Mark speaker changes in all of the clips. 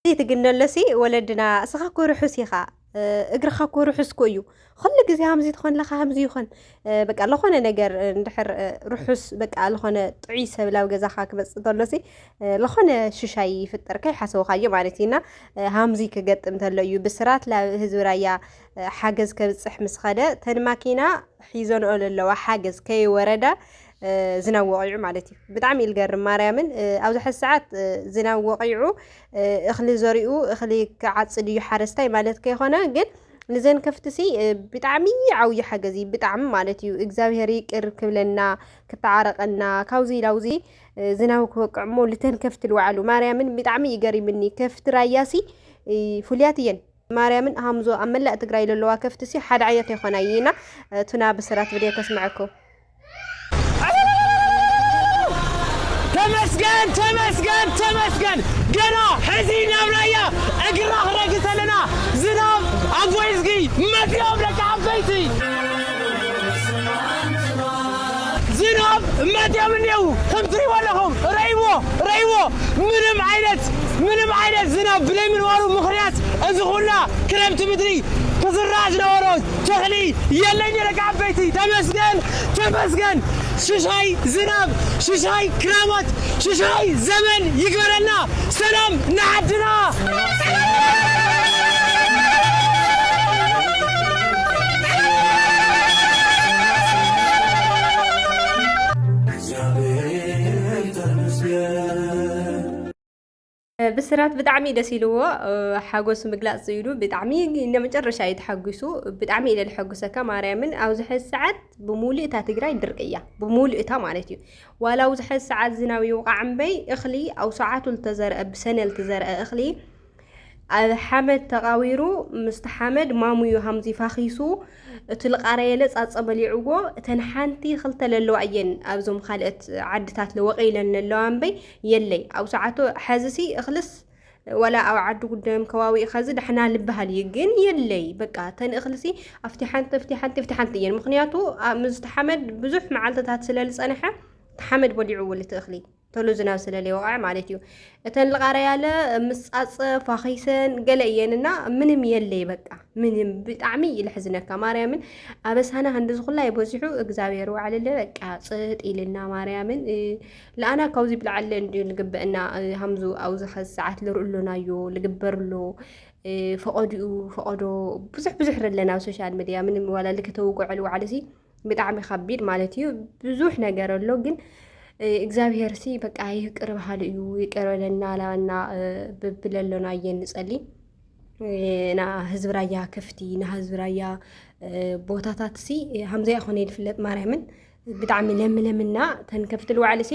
Speaker 1: ዘይትግነሎሲ ወለድና እስኻ እኮ ርሑስ ኢኻ እግርኻ እኮ ርሑስ እኮ እዩ ኩሉ ግዜ ከምዚ ትኾን ለኻ ከምዚ ይኾን በቃ ለኾነ ነገር እንድሕር ርሑስ በቃ ለኾነ ጥዑይ ሰብ ላብ ገዛኻ ክመፅእ ተሎሲ ለኾነ ሽሻይ ይፍጠር ከይሓሰብኻዮ ማለት እዩና ሃምዚ ክገጥም ተሎ እዩ ብስራት ላብ ህዝቢ ራያ ሓገዝ ከብፅሕ ምስ ኸደ ተን ማኪና ሒዘንኦ ዘለዋ ሓገዝ ከይወረዳ ዝናብ ወቂዑ ማለት እዩ ብጣዕሚ እዩ ዝገርም ማርያምን ኣብዚ ሕዚ ሰዓት ዝናብ ወቂዑ እኽሊ ዘሪኡ እኽሊ ክዓፅድ እዩ ሓረስታይ ማለት ከይኮነ ግን ንዘን ከፍቲ ሲ ብጣዕሚ ዓብዩ ሓገዝ እዩ ብጣዕሚ ማለት እዩ እግዚኣብሄር ይቅር ክብለና ክተዓረቀና ካብዚ ላውዚ ዝናብ ክወቅዕ እሞ ልተን ከፍቲ ልዋዕሉ ማርያምን ብጣዕሚ እዩ ገሪምኒ ከፍቲ ራያሲ ፍሉያት እየን ማርያምን ሃምዞ ኣብ መላእ ትግራይ ዘለዋ ከፍቲ ሲ ሓደ ዓይነት ኣይኮና እየና ቱና ብስራት ብድየ ከስምዐኩም
Speaker 2: ተመስገን ተመስገን ተመስገን ገና ሕዚ ናብ ራያ እግርና ክረግፅ ኣለና ዝናብ ኣጎይዝጊ መፅኦም ደቂ ዓበይቲ ዝናብ መፅኦም እኔዉ ከም ትሪእዎ ኣለኹም ረይዎ ረይዎ ምንም ዓይነት ምንም ዓይነት ዝናብ ብለይምንባሩ ምኽንያት እዚ ኩላ ክረምቲ ምድሪ ክዝራእ ዝነበሮ ተኽሊ የለይ ነይረ ካብ ዓበይቲ ተመስገን ተመስገን ሽሻይ ዝናብ ሽሻይ ክራማት ሽሻይ ዘመን ይግበረልና ሰላም ንዓድና።
Speaker 1: ብስራት ብጣዕሚ እዩ ደስ ኢልዎ ሓጎሱ ምግላፅ ኢሉ ብጣዕሚ ንመጨረሻ እዩ ተሓጒሱ ብጣዕሚ ኢለ ልሐጉሰካ ማርያምን ኣብዚ ሕዚ ሰዓት ብሙሉእ እታ ትግራይ ድርቅ እያ ብሙሉእ እታ ማለት እዩ ዋላ ኣብዚ ሕዚ ሰዓት ዝናብ ይውቃዕ እምበይ እኽሊ ኣብ ሰዓቱ ዝተዘርአ ብሰነ ዝተዘርአ እኽሊ ኣብ ሓመድ ተቃዊሩ ምስቲ ሓመድ ማሙዩ ሃምዚ ፋኺሱ እቲ ልቓረየለ ጻጸ በሊዕዎ እተን ሓንቲ ክልተ ለለዋ እየን ኣብዞም ካልኦት ዓድታት ለወቀ ኢለን ለለዋ እምበይ የለይ ኣብ ሰዓቱ ሐዚሲ እኽልስ ወላ ኣብ ዓዲ ጉደም ከባቢ ከዚ ዳሕና ልበሃል እዩ ግን የለይ በቃ ተንእክልሲ ኣብቲ ሓንቲ ኣብቲ ሓንቲ ኣብቲ ሓንቲ እየን ምክንያቱ ምስቲ ሓመድ ብዙሕ መዓልትታት ስለዝፀንሐ ሓመድ በሊዑ ውልቲ እኽሊ ተሎ ዝናብ ስለ ለይወቕዐ ማለት እዩ እተን ልቓረያለ ምሳፀ ፋኺሰን ገለ እየንና ምንም የለይ በቃ ምንም ብጣዕሚ እዩ ልሕዝነካ ማርያምን ኣበሳና ክንዲ ዝኹላ ይበዚሑ እግዚኣብሔር ዋዕልለ በቃ ፅጥ ኢልና ማርያምን ለኣና ካብዚ ብላዓለ እንድዩ ልግበእና ሃምዙ ኣብዚ ኸዚ ሰዓት ልርእሎናዮ ልግበርሎ ፈቐድኡ ፈቐዶ ብዙሕ ብዙሕ ረለና ኣብ ሶሻል ሚድያ ምንም ዋላ ልክተውግዐሉ ዋዕልሲ ብጣዕሚ ከቢድ ማለት እዩ። ብዙሕ ነገር ኣሎ ግን እግዚኣብሄር ሲ በቃ ይቅር በሃሉ እዩ ይቅር በለና ላና ብብለሎና እየ ንጸሊ ና ህዝቢ ራያ ክፍቲ ና ህዝቢ ራያ ቦታታት ሲ ሃምዘ ይኾነ ይፍለጥ ማርያምን ብጣዕሚ ለምለምና ተንከፍቲ ልዋዕሊ ሲ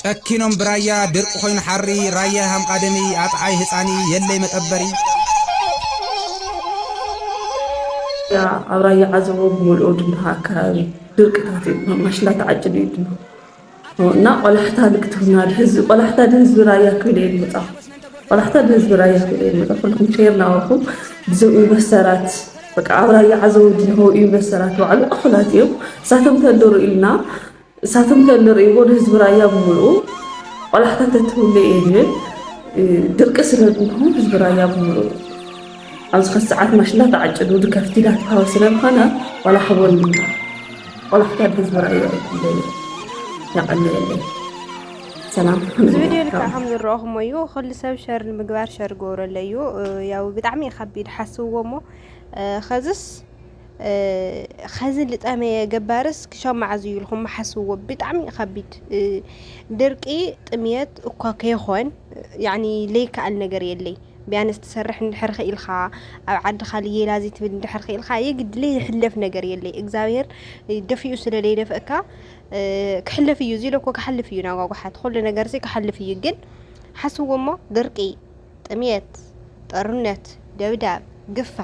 Speaker 3: ጨኪኖም ብራያ ድርቂ ኮይኑ ሓሪ ራያ ይሃም ቃደሚ ኣጥዓይ ህጻኒ የለይ መጠበሪ።
Speaker 4: ኣብ ራያ ዓዘቦ ብምልኡ ድማ ኣከባቢ ድርቅታት እዩ ድማ ማሽላ ተዓጭዱ እዩ ድማ እና ቆላሕታ ልክትብና ድህዝቢ ቆላሕታ ድህዝቢ ራያ ክብል እየ ዝመፃኹ ቆላሕታ ድህዝቢ ራያ ክብል እየ ዝመፃ ኩልኩም ሼር ናበልኩም ብዞም ኢንቨስተራት በቃ ኣብ ራያ ዓዘቦ ድንሆ ኢንቨስተራት ባዕሉ እኹላት እዮም እሳቶም ተንድሩ ኢልና ንሳቶም ከ እንርእይዎ ንህዝቢ ራያ ብምልኡ ቆላሕታ ተትህሉ እየ ዝብል። ድርቂ ስለ ዝንሆ ህዝቢ ራያ ብምልኡ ኣብዚ ከዚ ሰዓት ማሽላ ተዓጭዱ ድከፍቲ ዳተሃወ ስለ ዝኾነ ዋላ ሓቦን ቆላሕታ ህዝቢ ራያ እዩ ዝደልዮ። ያቀንየለይ። እዚ ቪድዮ ልክዕ
Speaker 1: ከም ዝረኣኹሞ እዩ ኩሉ ሰብ ሸር ንምግባር ሸር ገብረለይ እዩ ያው ብጣዕሚ እዩ ከቢድ ሓስብዎ እሞ ኸዝስ ኸዚ ልጠመየ ገባርስ ክሻብ መዓዝ እዩ ኢልኩም ሓስብዎ ብጣዕሚ እዩ ከቢድ ድርቂ ጥምየት እኳ ከይኾን ያኒ ለይከኣል ነገር የለይ ቢያንስ ትሰርሕ እንድሕር ኽኢልካ ኣብ ዓድኻ ልየላ ዘይትብል እንድሕር ኽኢልካ የግድ ለይሕለፍ ነገር የለይ እግዚኣብሄር ደፊኡ ስለ ለይደፍእካ ክሕለፍ እዩ እዚ ኢለ እኮ ክሓልፍ እዩ ናጓጓሓት ኩሉ ነገርሲ ክሓልፍ እዩ ግን ሓስብዎ እሞ ድርቂ ጥምየት፣ ጦርነት፣ ደብዳብ፣ ግፋ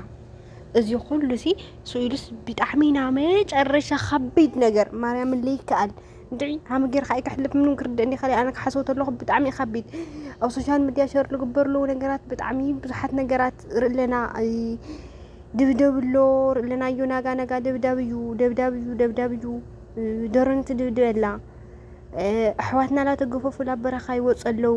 Speaker 1: እዚ ኩሉሲ ስኢሉስ ብጣዕሚ ናብ መጨረሻ ከቢድ ነገር ማርያምን ለይከኣል እንድዒ ሃሚ ጌርካ ኣይክሕልፍ ምንም ክርድእ እንዲ ከለ ኣነ ክሓስቦ ተለኹ ብጣዕሚ እዩ ከቢድ ኣብ ሶሻል ሚድያ ሸር ዝግበር ኣለዉ ነገራት ብጣዕሚ ብዙሓት ነገራት ርእለና ድብደብ ኣሎ ርእለና እዩ ናጋ ናጋ ደብዳብ እዩ ደብዳብ እዩ ደብዳብ እዩ ደሮን ትድብድብ ኣላ ኣሕዋትና ላተገፈፉ ላበረኻ ይወፁ ኣለዉ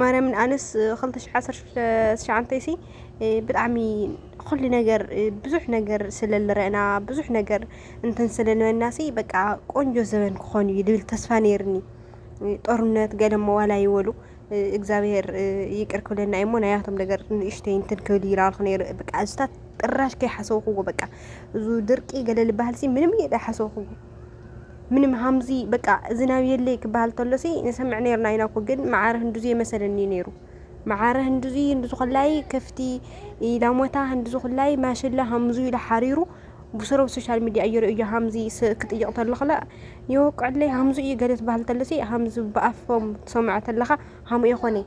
Speaker 1: ማርያምን ኣነስ ክልተ ሽሕ ዓሰርተ ሽዱሽተ ትሽዓንተይሲ ብጣዕሚ ኩሉ ነገር ብዙሕ ነገር ስለ ንርአና ብዙሕ ነገር እንትን ስለ ንበልናሲ በቃ ቆንጆ ዘበን ክኾን እዩ ዝብል ተስፋ ነይርኒ ጦርነት ገለ እሞ ዋላ ይበሉ እግዚኣብሄር ይቅር ክብለና እዩ እሞ ናያቶም ነገር ንእሽተይ እንትን ክብል ይረኣልኩ ነይሩ በቃ እዚታት ጭራሽ ከይሓሰብኩዎ በቃ እዚ ድርቂ ገለ ዝበሃልሲ ምንም እየ ዘይሓሰብኩዎ። ምንም ሃምዚ በቃ እዚ ናብ የለይ ክበሃል ተሎሲ ንሰምዕ ነርና ኢና እኮ ግን መዓረ ህንዱዚ የመሰለኒ ነሩ መዓረ ህንዱዚ ህንዱዚ ኮላይ ከፍቲ ላሞታ ህንዱዚ ኮላይ ማሽላ ሃምዙ ኢሉ ሓሪሩ ብስሮ ሶሻል ሚዲያ እዩ ርእዮ ሃምዚ ክጥይቕ ተለኽለ የወቅዕለይ ሃምዙ እዩ ገለ ትበሃል ተሎሲ ሃምዚ ብኣፎም ትሰምዖ ተለኻ ሃምኡ የኾነይ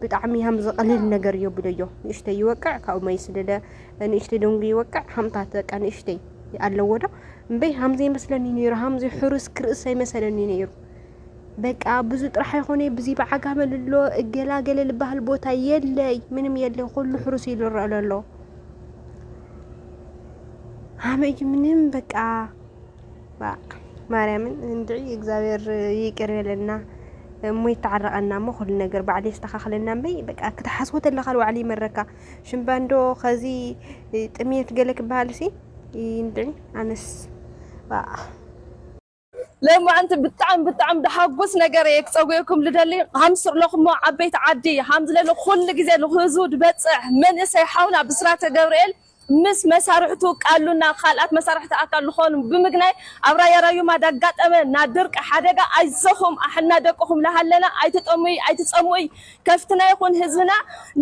Speaker 1: ብጣዕሚ ሃም ዝቐልል ነገር እዮ ብለዮ ንእሽተይ ይወቅዕ ካብኡ መይ ስደደ ንእሽተይ ደንጉ ይወቅዕ ሃምታት በቃ ንእሽተይ ኣለዎ ዶ እምበይ ሃም ዘይመስለኒ ነይሩ ሃም ዘይሕሩስ ክርእስ ኣይመሰለኒ ነይሩ በቃ ብዙ ጥራሕ ይኾነ ብዙ ብዓጋመ ልሎ እገላገለ ልበሃል ቦታ የለይ ምንም የለ ኩሉ ሕሩስ ኢሉ ይረአ ለሎ ሃመይ ምንም በቃ ባእ ማርያምን እንድዒ እግዚኣብሔር ይቅር ይበለልና እሞ ይተዓረቀና እሞ ኩሉ ነገር ባዕሉ የስተካክለና እምበይ በቃ ክትሓስቦ ተለካ ልባዕሉ ይመረካ ሽምባንዶ ከዚ ጥምየት ገለ ክበሃል ሲ እንድዒ ኣነስ
Speaker 4: ለማዓንቲ ብጣዕሚ ብጣዕሚ ደሓጉስ ነገር እየ ክፀጉየኩም ልደሊ ሃምስር ለኹሞ ዓበይቲ ዓዲ ሃምዝለለ ኩሉ ግዜ ልክህዝቡ ድበፅሕ መንእሰይ ሓውና ብስራተ ገብርኤል ምስ መሳርሕቱ ቃሉና ካልኣት መሳርሕቲ ኣካል ልኾኑ ብምግናይ ኣብ ራያ ራዩማ ዳጋጠመ ና ድርቂ ሓደጋ ኣይዞኹም ኣሕልና ደቅኹም ላሃለና ኣይትጠሙይ ኣይትጸሙእይ ከፍትና ይኹን ህዝብና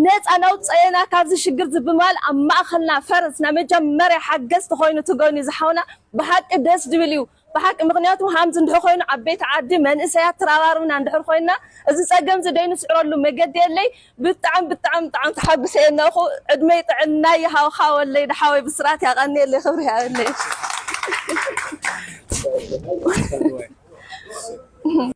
Speaker 4: ነጻ ናውጸኤና ካብዚ ሽግርዚ ብማል ኣብ ማእኸልና ፈርስ ናመጃመርያ ሓገዝቲ ኾይኑ ትገኙ ዝሓውና ብሓቂ ደስ ድብል እዩ ብሓቂ ምኽንያቱ ሃምዚ እንድሕር ኮይኑ ኣብ ቤት ዓዲ መንእሰያት ትራባርብና እንድሕር ኮይና እዚ ጸገምዚ ደይ ንስዕረሉ መገዲ የለይ ብጣዕሚ ብጣዕሚ ብጣዕሚ ተሓጉሰ እየ እነኹ ዕድመይ ጥዕናይ ይሃብኻ ወለይ ድሓወይ ብስራት ያቀንየለይ ክብሪ ያበለይ።